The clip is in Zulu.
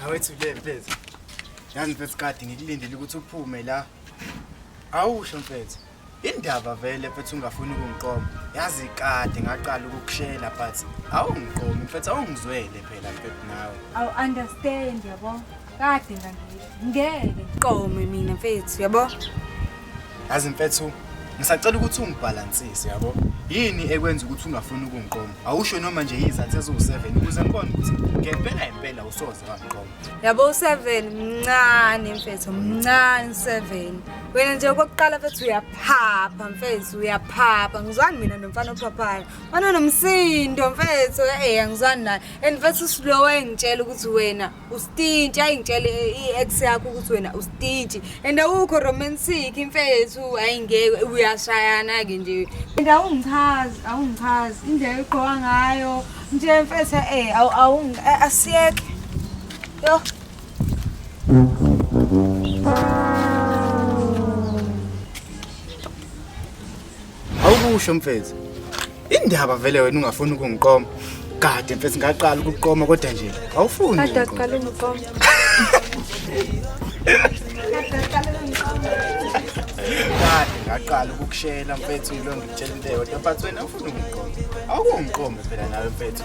Awethu le mfethu. Yazi mfethu kade ngikulindele ukuthi uphume la. Awusho mfethu. Indaba vele mfethu ungafuni ukungiqoma. Yazi kade ngaqala ukukushela but awungiqomi mfethu awungizwele phela mfethu nawe. Awu understand yabo. kade ngangile ngeke qome mina mfethu yabo yazi mfethu ngisacela ukuthi ungibhalansise yabo yini ekwenza ukuthi ungafuni ukungiqoma awusho noma nje yizathu eziwu-7 ukuze ngibone ukuthi ngempela impela usoze wangiqoma yabo u-7 mncane mfethu mncane u-7 wena nje okokuqala mfethu uyaphapha mfethu uyaphapha ngizwani mina nomfana ophaphayo wanonomsindo mfethu eya ngizwani naye and mfethu usilowa engitshela ukuthi wena ustinti ayingitshele i-ex yakho ukuthi wena ustinti and awukho romantic imfethu ayingeke uyashayana-ke nje and awungichazi awungichazi indlela egqoka ngayo nje mfethu e asiyeke yo Awukusho mfethu. Indaba vele wena ungafuni ukungiqoma. Kade mfethu ngaqala ukuqoma kodwa nje awufuni. Kade aqala ukuqoma. Kade ngaqala ukukushela mfethu yilo ngitshela into eyodwa but wena ufuna ukungiqoma. Awukungiqoma phela nawe mfethu.